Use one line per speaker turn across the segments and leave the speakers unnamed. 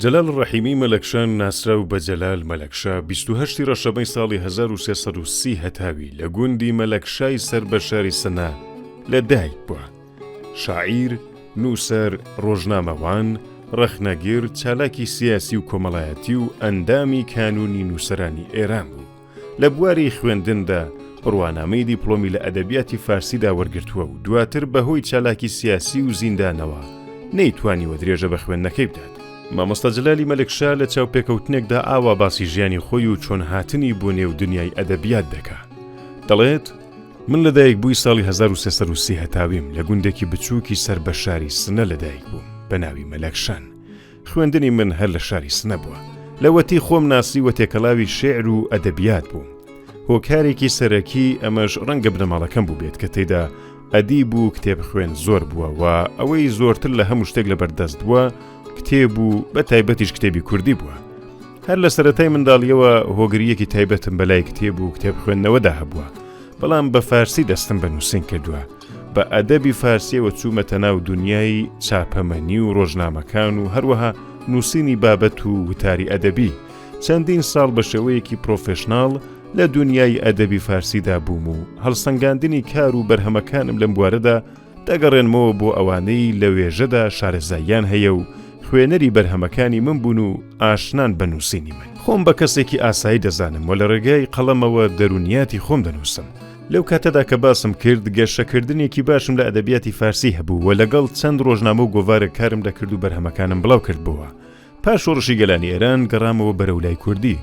جەلال ڕەحیمی مەلەکشا ناسراو بە جەلال مەلەکشا 28 ڕەشەبەی ساڵی 1330 هەتاوی لە گوندی مەلەکشای سەر بە شاری سنە لە دایک بووە شاعیر نووسەر ڕۆژنامەوان ڕەخنەگر چالاکی سیاسی و کۆمەڵایەتی و ئەندامی کانونی نووسەرانی ئێران بوو لە بواری خوێندندا بڕوانامەی دیپڵۆمی لە ئەدەبیاتی فارسیدا وەرگرتووە و دواتر بەهۆی چالاکی سیاسی و زیندانەوە نەیتوانیوە درێژە بە خوێندنەکەی بدات. مامۆستا جەلالی مەلکشا لە چاوپێکەوتنێکدا ئاوا باسی ژیانی خۆی و چۆن هاتنی بۆ نێو دنیای ئەدەبیات دەکا، دەڵێت، من لە دایکبووی ساڵی هەزار و سێ سەد و سی هەتاویم لە گوندێکی بچووکی سەر بە شاری سنە لە دایکبووم بە ناوی مەلەکشان، خوێندنی من هەر لە شاری سنە بووە. لەوەتی خۆم ناسیوە تێکەڵاوی شیعر و ئەدەبیات بووم. هۆکارێکی سەرەکی ئەمەش ڕەنگە بنەماڵەکەم بووبێت کە تێیدا ئەدیب و کتێبخوێن زۆر بووە و ئەوەی زۆرتر لە هەموو شتێک لەبەردەست بووە کتێب و بە تایبەتیش کتێبی کوردی بووە. هەر لە سەرەتای منداڵیەوە هۆگرییەکی تایبەتم بەلای کتێب و کتێبخوێندنەوەدا هەبووە، بەڵام بە فارسی دەستم بە نووسین کردووە. بە ئەدەبی فارسییەوە چوومەتە ناو دونیای چاپەمەنی و ڕۆژنامەکان و هەروەها نووسینی بابەت و وتاری ئەدەبی، چەندین ساڵ بە شێوەیەکی پرۆفێشناڵ لە دونیای ئەدەبی فارسیدا بووم و هەڵسەنگاندنی کار و بەرهەمەکانم لەم بوارەدا دەگەڕێنمەوە بۆ ئەوانەی لە وێژەدا شارەزاییان هەیە و خوێنەری بەرهەمەکانی من بوون و ئاشنان بە نووسینی من. خۆم بە کەسێکی ئاسایی دەزانم و لە ڕێگای قەڵەمەوە دەروونیاتی خۆم دەنووسم، لەو کاتەدا کە باسم کرد، گەشەکردنێکی باشم لە ئەدەبیاتی فارسی هەبوو و لەگەڵ چەند ڕۆژنامە و گۆڤارێک کارم دەکرد و بەرهەمەکانم بڵاو کردبۆوە. پاش شۆڕشی گەلانی ئێران گەڕامەوە بەرەو لای کوردی.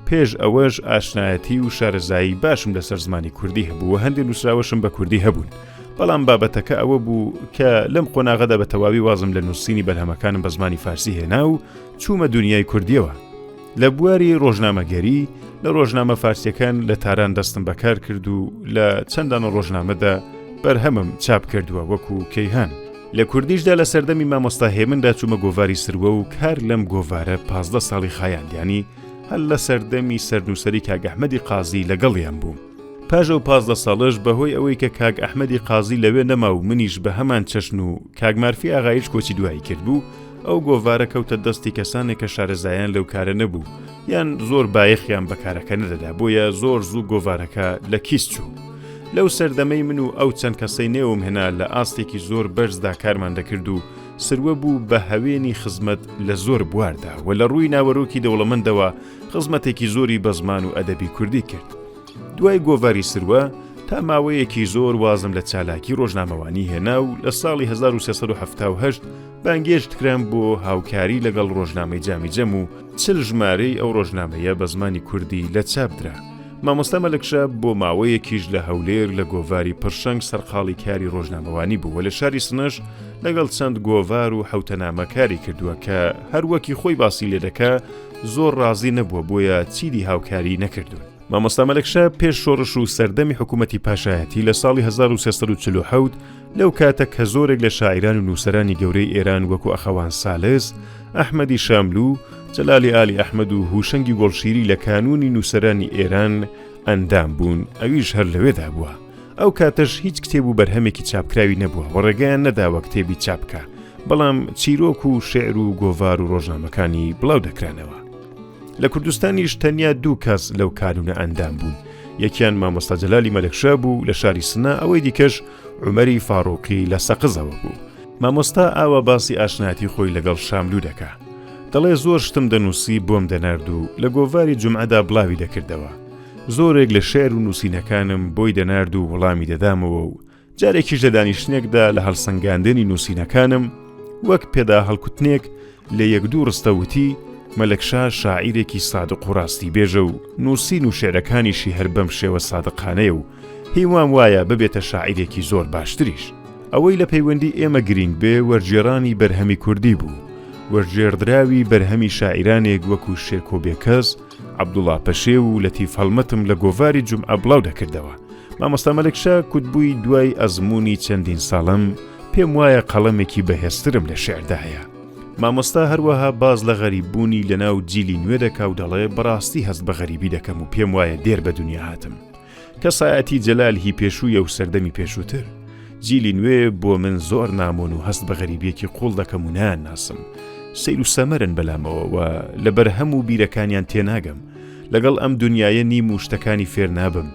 پێش ئەوەش ئاشنایەتی و شارەزایی باشم لەسەر زمانی کوردی هەبوو و هەندێ نووسراوەشم بە کوردی هەبوون. بەڵام بابەتەکە ئەوە بوو کە لەم قۆناغەدا بە تەواوی وازم لە نووسینی بەرهەمەکانم بە زمانی فارسی هێنا و چوومە دونیای کوردییەوە. لە بواری ڕۆژنامەگەری لە ڕۆژنامە فارسیەکان لە تاران دەستم بەکار کرد و لە چەندان ڕۆژنامەدا بەرهەمم چاپ کردووە وەکو کەیهان لە کوردیشدا لە سەردەمی مامۆستا هێمندا چوومە گۆڤاری سروە و کار لەم گۆڤارە پازدە ساڵی خایاندیانی هەل لە سەردەمی سەرنووسری کاگەحمەدی قازی لەگەڵیان بووم پاژە و پازدە ساڵش بەهۆی ئەوەی کە کاگ ئەحمەدی قازی لەوێ نەما و منیش بە هەمان چەشن و کاگمارفی ئاغایش کۆچی دوایی کرد بوو ئەو گۆڤارە کەوتە دەستی کەسانێک کە شارەزایان لەو کارە نەبوو یان زۆر بایەخیان بە کارەکە نەدەدا بۆیە زۆر زوو گۆڤارەکە لە کیس چوو. لەو سەردەمەی من و ئەو چەند کەسەی نێوم هێنا لە ئاستێکی زۆر بەرزدا کارمان دەکرد و سروە بوو بە هەوێنی خزمەت لە زۆر بواردا و لە ڕووی ناوەرۆکی دەوڵەمەندەوە خزمەتێکی زۆری بە زمان و ئەدەبی کوردی کرد. دوای گۆڤاری سروە تا ماوەیەکی زۆر وازم لە چالاکی ڕۆژنامەوانی هێنا و لە ساڵی هەزار و سێ سەد و حەفتا و هەشت بانگێشت کرام بۆ هاوکاری لەگەڵ ڕۆژنامەی جامی جەم و چل ژمارەی ئەو ڕۆژنامەیە بە زمانی کوردی لە چاپدرا مامۆستا مەلکشە بۆ ماوەیەکیش لە هەولێر لە گۆڤاری پرشنگ سەرقاڵی کاری ڕۆژنامەوانی بووە لە شاری سنەش لەگەڵ چەند گۆڤار و حوتەنامە کاری کردووە کە هەروەکی خۆی باسی لێ دەکە زۆر ڕازی نەبووە بۆیە چیدی هاوکاری نەکردوون. مامۆستا مەلەکشا پێش شۆڕش و سەردەمی حکوومەتی پاشایەتی لە ساڵی 1940 لەو کاتە کە زۆرێک لە شاعران و نووسرانی گەورەی ئێران وەکو ئەخەوان سالس، ئەحمەدی شاملو، جەلالی ئالی ئەحمەد و هوشەنگی گۆڵشیری لە کانوونی نووسرانی ئێران ئەندام بوون ئەویش هەر لەوێدا بووە. ئەو کاتەش هیچ کتێب و بەرهەمێکی چاپکراوی نەبووە و ڕێگەیان نەداوە کتێبی چاپکە، بەڵام چیرۆک و شعر و گۆڤار و ڕۆژنامەکانی بڵاو دەکرانەوە. لە کوردستانیش تەنیا دوو کەس لەو کانونە ئەندام بوون یەکیان مامۆستا جەلالی مەلکشا بوو لە شاری سنا ئەوەی دیکەش عمەری فاڕۆقی لە سەقزەوە بوو مامۆستا ئاوا باسی ئاشناتی خۆی لەگەڵ شاملو دەکا دەڵێ زۆر شتم دەنووسی بۆم دەنارد و لە گۆڤاری جمعەدا بڵاوی دەکردەوە زۆرێک لە شعر و نووسینەکانم بۆی دەنارد و وڵامی دەدامەوە و جارێکیش لە دانیشتنێکدا لە هەڵسەنگاندنی نووسینەکانم وەک پێدا هەڵکوتنێک لە یەک دوو ڕستەوتی مەلەکشا شاعیرێکی سادق و ڕاستی بێژە و نووسین و شعرەکانیشی هەر بەم شێوە سادقانەیە و هیوام وایە ببێتە شاعیرێکی زۆر باشتریش ئەوەی لە پەیوەندی ئێمە گرینگ بێ وەرجێرانی بەرهەمی کوردی بوو وەرجێردراوی بەرهەمی شاعیرانێک وەکو شێرکۆ بێکەس عەبدوڵا پەشێو و لەتیف هەڵمەتم لە گۆڤاری جومعە بڵاو دەکردەوە. مامۆستا مەلەکشا کوتبووی دوای ئەزموونی چەندین ساڵم، پێم وایە قەڵەمێکی بەهێزترم لە شیعردا هەیە. مامۆستا هەروەها باس لە غەریببوونی لەناو جیلی نوێ دەکا و دەڵێ بەڕاستی هەست بە غەریبی دەکەم و پێم وایە دێر بە دونیا هاتم. کەسایەتی جەلال هی پێشوویە و سەردەمی پێشووتر. جیلی نوێ بۆ من زۆر نامۆن و هەست بە غەریبیەکی قوڵ دەکەم و نان ناسم. سەیر و سەمەرن بەلامەوە و لە بەرهەم و بیرەکانیان تێناگەم. لەگەڵ ئەم دونیایە نیم و شتەکانی فێر نابم.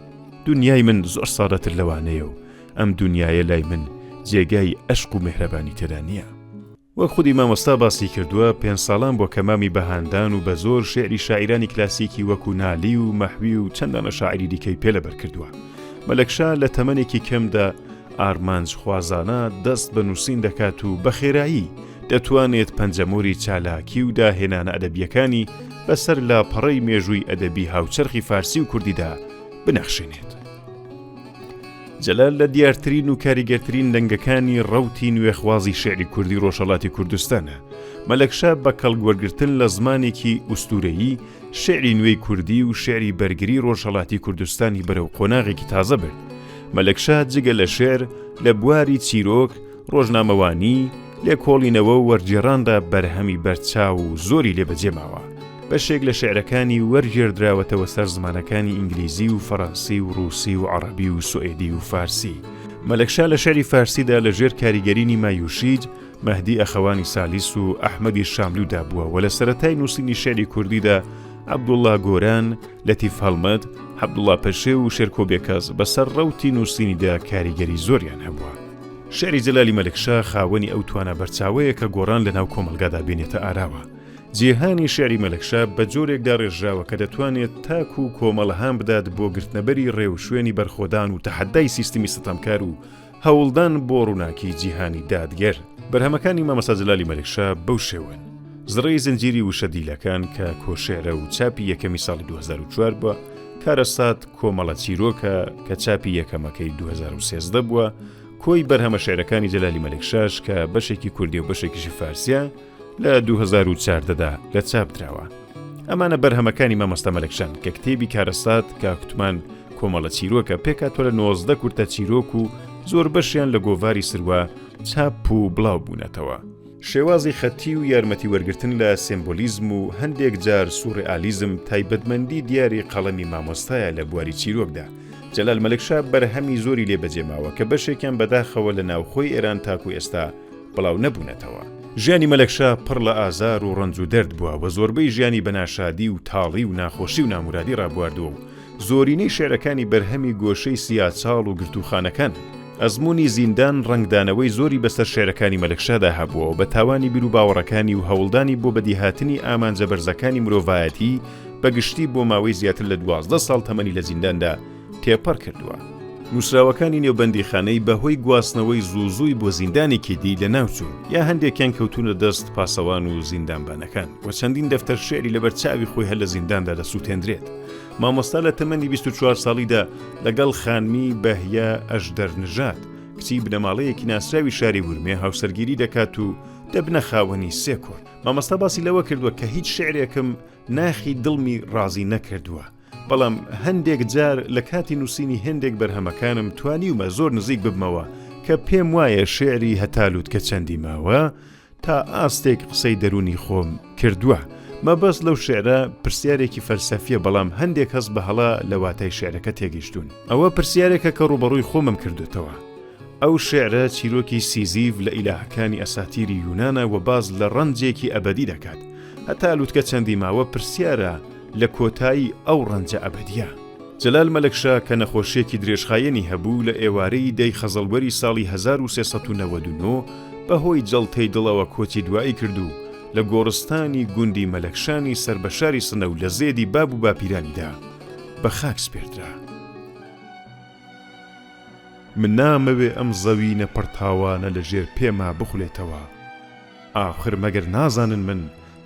دونیای من زۆر سادەتر لەوانەیە و ئەم دونیایە لای من جێگای ئەشق و مێهرەبانی تێدا نییە. وەک خودی مامۆستا باسی کردووە، پێنج ساڵان بۆ کە مامی بە هاندان و بە زۆر شیعری شاعیرانی کلاسیکی وەکوو نالی و مەحوی و چەند دانە شاعیری دیکەی پێ لەبەر کردووە. مەلەکشا لە تەمەنێکی کەمدا ئارمانجخوازانە دەست بە نووسین دەکات و بە خێرایی دەتوانێت پەنجەمۆری چالاکی و داهێنانە ئەدەبییەکانی بە سەر لاپەڕەی مێژووی ئەدەبی هاوچەرخی فارسی و کوردیدا بنەخشێنێت. جەلال لە دیارترین و کاریگەرترین دەنگەکانی ڕەوتی نوێخوازی شعری کوردی ڕۆژهەڵاتی کوردستانە. مەلەکشا بە کەڵک وەرگرتن لە زمانێکی ئوستوورەیی، شعری نوێی کوردی و شعری بەرگری ڕۆژهەڵاتی کوردستانی بەرەو قۆناغێکی تازە برد. مەلەکشا جگە لە شعر، لە بواری چیرۆک، ڕۆژنامەوانی، لێکۆڵینەوە و وەرگێڕاندا بەرهەمی بەرچاو و زۆری لێ بەجێ ماوە. بەشێک لە شیعرەکانی وەرگێردراوەتەوە سەر زمانەکانی ئینگلیزی و فەرەنسی و ڕووسی و عەڕەبی و سوئێدی و فارسی. مەلەکشا لە شیعری فارسیدا لە ژێر کاریگەریی مایوشیج، مەهدی ئەخەوانی سالیس و ئەحمەدی شاملوودا بووە و لە سەرەتای نووسینی شیعری کوردیدا عەبدوڵڵا گۆران، لەتیف هەڵمەت، عەبدوڵڵا پەشێو و شێرکۆ بێکەس بەسەر ڕەوتی نووسینیدا کاریگەری زۆریان هەبووە. شیعری جەلالی مەلکشا خاوەنی ئەو توانا بەرچاوەیە کە گۆڕان لەناو کۆمەڵگادا بێنێتە ئاراوە. جیهانی شیعری مەلکشا بە جۆرێک داڕێژراوە کە دەتوانێت تاک و کۆمەڵ هان بدات بۆ گرتنەبەری ڕێوشوێنی بەرخۆدان و تەحەدای سیستمی ستەمکار و هەوڵدان بۆ ڕووناکی جیهانی دادگەر. بەرهەمەکانی مامۆستا جەلالی مەلکشا بەو شێوەن. زڕەی زنجیری وشە دیلەکان کە کۆشیعرە و چاپی یەکەمی ساڵی دوو هەزار و چوار بووە، کارەسات کۆمەڵە چیرۆکە کە چاپی یەکەمەکەی 2013 بووە، کۆی بەرهەمە شعرەکانی جەلالی مەلکشاش کە بەشێکی کوردی و بەشێکیشی فارسیە لە 2014دا لە چاپ دراوە. ئەمانە بەرهەمەکانی مامۆستا مەلکشان کە کتێبی کارەسات کاکوتمان کۆمەڵە چیرۆکە پێکاتۆ لە نۆزدە کورتە چیرۆک و زۆر بەشیان لە گۆڤاری سروە چاپ و بڵاو بوونەتەوە. شێوازی خەتی و یارمەتی وەرگرتن لە سێمبولیزم و هەندێک جار سوڕئالیزم تایبەتمەندی دیاری قەڵەمی مامۆستایە لە بواری چیرۆکدا. جەلال مەلکشا بەرهەمی زۆری لێ بەجێ ماوە کە بەشێکیان بەداخەوە لە ناوخۆی ئێران تاکوو ئێستا بڵاو نەبوونەتەوە. ژیانی مەلەکشا پڕ لە ئازار و ڕەنج و دەرد بووە و زۆربەی ژیانی بە ناشادی و تاڵی و ناخۆشی و نامورادی ڕابواردووە و زۆرینەی شیعرەکانی بەرهەمی گۆشەی سیاچاڵ و گرتووخانەکانن. ئەزموونی زیندان ڕەنگدانەوەی زۆری بەسەر شیعرەکانی مەلەکشادا هەبووە، بە تاوانی بیروباوەڕەکانی و هەوڵدانی بۆ بەدیهاتنی ئامانجە بەرزەکانی مرۆڤایەتی بە گشتی بۆ ماوەی زیاتر لە دوازدە ساڵ تەمەنی لە زینداندا تێپەڕ کردووە. نووسراوەکانی نێو بەندیخانەی بە هۆی گواستنەوەی زوو زووی بۆ زیندانێکی دی لەناو چوون، یا هەندێکیان کەوتوونە دەست پاسەوان و زیندانبانەکان و چەندین دەفتەر شیعری لەبەر چاوی خۆی هەر لە زینداندا دەسووتێندرێت. مامۆستا لە تەمەنی بیست و چوار ساڵیدا لەگەڵ خانمی بەهیە ئەژدەر نژاد، کچی بنەماڵەیەکی ناسراوی شاری ورمێ هاوسەرگیری دەکات و دەبنە خاوەنی سێ کوڕ. مامۆستا باسی لەوە کردووە کە هیچ شیعرێکم ناخی دڵمی ڕازی نەکردووە، بەڵام هەندێک جار لە کاتی نووسینی هێندێک بەرهەمەکانم توانیومە زۆر نزیک ببمەوە کە پێم وایە شیعری هەتا لووتکە چەندی ماوە، تا ئاستێک قسەی دەروونی خۆم کردووە. مەبەست لەو شیعرە پرسیارێکی فەلسەفییە بەڵام هەندێک کەس بە هەڵە لە واتای شیعرەکە تێگەیشتوون. ئەوە پرسیارێکە کە ڕووبەڕووی خۆمم کردووەتەوە. ئەو شیعرە چیرۆکی سیزیف لە ئیلاهەکانی ئەساتیری یونانە و باس لە ڕەنجێکی ئەبەدی دەکات. هەتا لوتکە چەندی ماوە پرسیارە لە کۆتایی ئەو ڕەنجە ئەبەدییە. جەلال مەلەکشا کە نەخۆشییەکی درێژخایەنی هەبوو، لە ئێوارەی دە ی خەزەڵوەری ساڵی هەزار و سێ سەد و نەوەد و نۆ بە هۆی جەڵتەی دڵەوە کۆچی دوایی کرد و لە گۆڕستانی گوندی مەلەکشانی سەر بە شاری سنە و لە زێدی باب و باپیرانیدا بە خاک سپێردرا. من نامەوێ ئەم زەوینە پڕ تاوانە لە ژێر پێما بخولێتەوە. ئاخر مەگەر نازانن من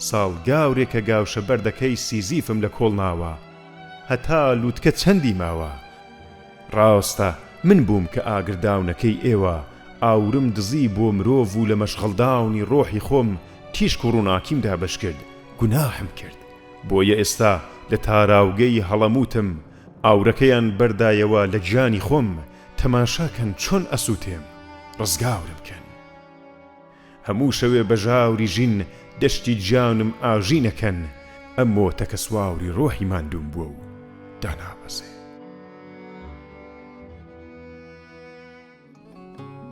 ساڵ گاورێکە گاوشە بەردەکەی سیزیفم لە کۆڵ ناوە. هەتا لوتکە چەندی ماوە؟ ڕاستە من بووم کە ئاگرداونەکەی ئێوە ئاورم دزی بۆ مرۆڤ و لە مەشغەڵداونی ڕۆحی خۆم تیشک و ڕووناکیم دابەش کرد گوناحم کرد بۆیە ئێستا لە تاراوگەی هەڵەموتم ئاورەکەیان بەردایەوە لە گیانی خۆم تەماشا کەن چۆن ئەسوتێم ڕزگاورم کەن. هەموو شەوێ بە ژاوری ژین دەشتی جانم ئاژی نەکەن ئەم مۆتەکە سواوری ڕۆحی ماندووم بووە و دانابەزێ.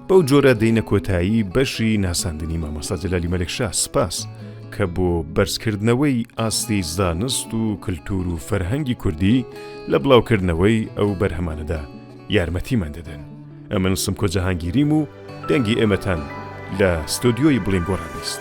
بەو جۆرە دێینە کۆتایی بەشی ناساندنی مامۆستا جەلالی مەلەکشا سپاس کە بۆ بەرزکردنەوەی ئاستی زانست و کلتور و فەرهەنگی کوردی لە بڵاوکردنەوەی ئەو بەرهەمانەدا یارمەتیمان دەدەن. ئەمن سمکۆ جەهانگیریم و دەنگی ئێمەتان لە ستۆدیۆی بڵیندگۆڕان بیست.